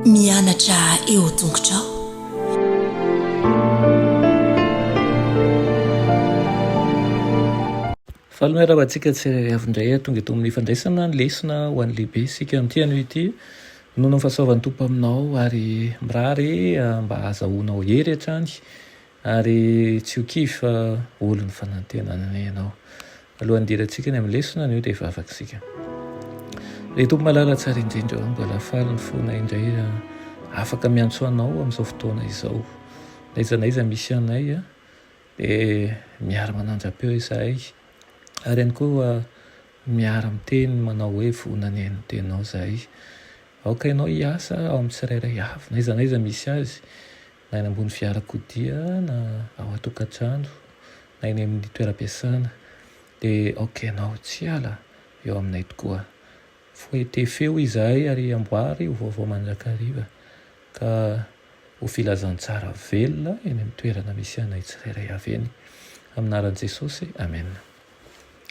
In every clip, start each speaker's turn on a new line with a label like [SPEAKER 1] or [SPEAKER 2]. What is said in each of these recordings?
[SPEAKER 1] Mianatra eo an-tongotrao.
[SPEAKER 2] Faly miarahaba antsika tsirairay avy indray tonga eto amin'ny fandraisana ny lesona ho an'ny lehibe isika amin'ity anio ity. Nonon fahasoavan'ny Tompo aminao ary mirary mba azahoanao hery hatrany Ary tsy ho kivy fa olo ny fanantenana ianao. Alohan'ny hidirantsika any amin'ny lesona anio dia hivavaka isika. Ry Tompo malala tsara indrindra ô, mba lafaly ny fona indray afaka miantso anao amin'izao fotoana izao. N'aiza n'aiza misy anay dia miara manandrapeo izahay ary ihany koa miara miteny manao hoe vonona ny haino teninao izahay. Aoka ianao hiasa ao amin'ny tsirairay avy n'aiza n'aiza misy azy na eny ambony fiarakodia na ao an-tokantrano na eny amin'ny toeram-piasana dia aoka ianao tsy hiala eo aminay tokoa. Foete feo izahay ary amboary ho vaovao mandrakariva ka ho filazantsara velona eny amin'ny toerana misy anay tsirairay avy eny. Amin'ny anaran'i Jesosy, amena.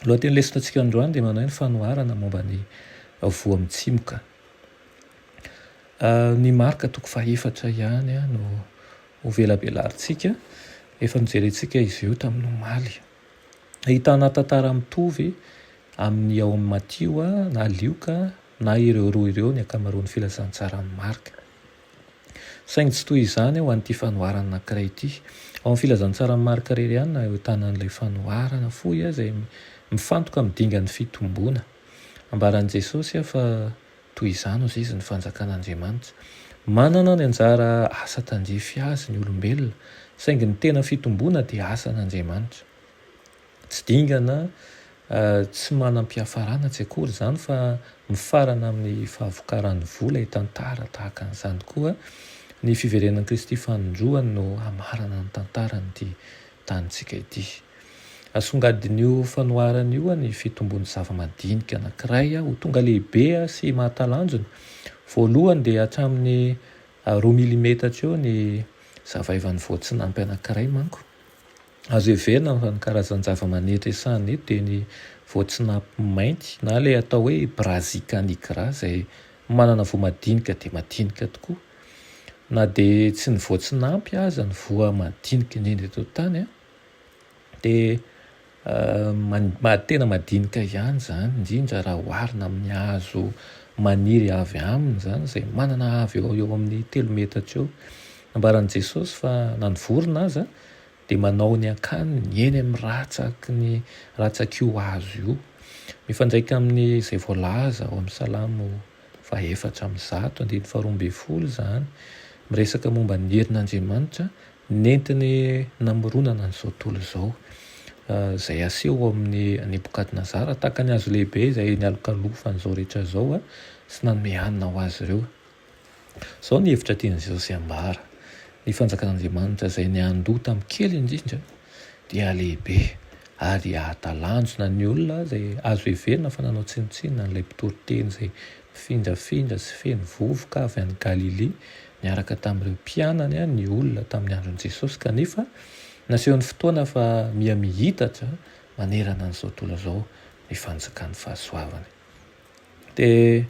[SPEAKER 2] Ny lohatenin'ny lesonatsika androany dia manahy ny fanoharana momba ny voa mitsimoka. Ny marka toko fahefatra ihany no hovelabelarintsika. Efa nojerentsika izy io tamin'ny omaly. Ahitana tantara mitovy amin'ny ao amin'i Matio na Lioka na ireo roa ireo ny ankamaroan'ny filazantsaran'i Marka. Saingy tsy toy izany ho an'ity fanoharana anankiray ity. Ao amin'ny filazantsaran'i Marka irery ihany no ahitana an'ilay fanoharana fohy izay mifantoka amin'ny dingan'ny fitomboana. Ambaran'i Jesosy fa. Toy izany hoy izy ny Fanjakan'Andriamanitra. Manana ny anjara asa tandrify azy ny olombelona, saingy ny tena fitomboana dia asan'Andriamanitra. Tsy dingana, tsy manam-piafarana tsy akory izany fa mifarana amin'ny fahavokaran'ny vola hitantara tahaka an'izany koa ny fiverenan'i Kristy fanindroany no hamarana ny tantaran'ity tanintsika ity. Asongadin'io fanoharana io ny fitombon'ny zava-madinika anankiray ho tonga lehibe sy mahatalanjona. Voalohany dia hatramin'ny roa milimetatra eo ny zavaivan'ny voatsinampy anankiray manko. Azo heverina fa ny karazan-javamanitra hiasahana eto dia ny voatsinampy mainty na ilay atao hoe Brassica nigra izay manana voa madinika dia madinika tokoa. Na dia tsy ny voatsinampy aza ny voa madinika indrindra eto an-tany an! Dia tena madinika ihany izany, indrindra raha oharina amin'ny hazo maniry avy aminy izany izay manana avy eo ho eo amin'ny telo metatra eo. Nambaran'i Jesosy fa na ny vorona aza dia manao ny akaniny eny amin'ny ratsaky ny ratsak'io hazo io. Mifandraika amin'izay voalaza ao amin'ny Salamo fahefatra amby zato andininy faharoa ambin'ny folo izany, miresaka momba ny herin'Andriamanitra Nentiny namoronana an'izao tontolo izao, izay aseho ao amin'i Nebokadnezara tahaka ny hazo lehibe izay nialokalofany izao rehetra izao sy nanome hanina ho azy ireo. Izao ny hevitra tian'i Jesosy hambara, Ny fanjakan'Andriamanitra izay niandoha tamin'ny kely indrindra dia lehibe ary hahatalanjona ny olona izay azo heverina fa nanao tsinontsinona an'ilay mpitory teny izay Mpifindafindra sy feno vovoka avy any Galilia niaraka tamin'ireo mpianany ny olona tamin'ny andron'i Jesosy, kanefa naseho ny fotoana fa miha miitatra manerana an'izao tontolo izao ny fanjakan'ny fahasoavany. Dia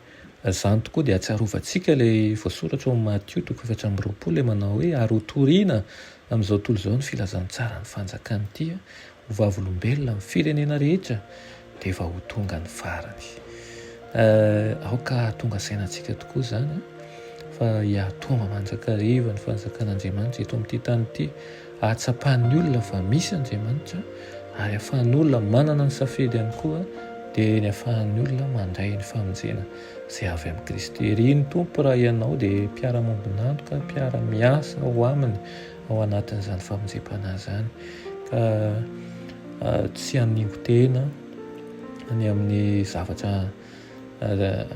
[SPEAKER 2] izany tokoa dia ahatsiarovantsika ilay voasoratra ao amin'ny Matio toko efatra amby roapolo, ilay manao hoe, Ary hotorina amin'izao tontolo izao ny filazantsara ny fanjakana ity ho vavolombelona amin'ny firenena rehetra dia efa ho tonga ny farany. Eh, aoka hahatonga saina antsika tokoa izany eh, fa hiatonga mandrakariva ny fanjakan'Andriamanitra eto amin'ity tany ity, hahatsapan'ny olona fa misy Andriamanitra ary afahan'ny olona manana ny safidy ihany koa dia ny afahan'ny olona mandray ny famonjena izay avy amin'i Kristy. Ry ny Tompo raha ianao dia mpiara-mambonantoka, mpiara-miasa ho aminy ao anatin'izany famonjempanahy izany ka tsy haningo tena any amin'ny zavatra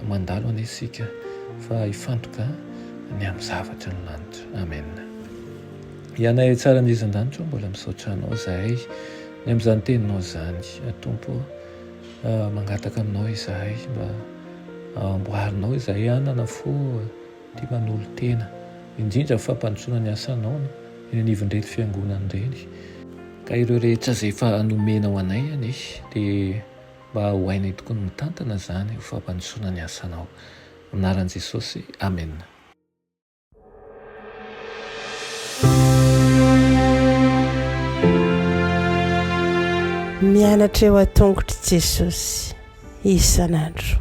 [SPEAKER 2] mandalo anie isika fa hifantoka ny amin'ny zavatra ny lanitra amen ianay tsara ny izan-danitro mbola misaotra anao zahay ny amin'izany teninao zany atompo mangataka aminao izahay mba amboarinao izahay anana fo dia manolo-tena indrindra amin'ny fampandrosoana ny asanao eny anivon'ireny fiangonana ireny. Ka ireo rehetra izay efa nomena ho anay anie dia mba ho hainay tokoa ny mitantana izany ho fampandrosoana ny asanao. Amin'ny anaran'i Jesosy, amena.
[SPEAKER 1] Mianatra eo an-tongotr'i Jesosy isan'andro.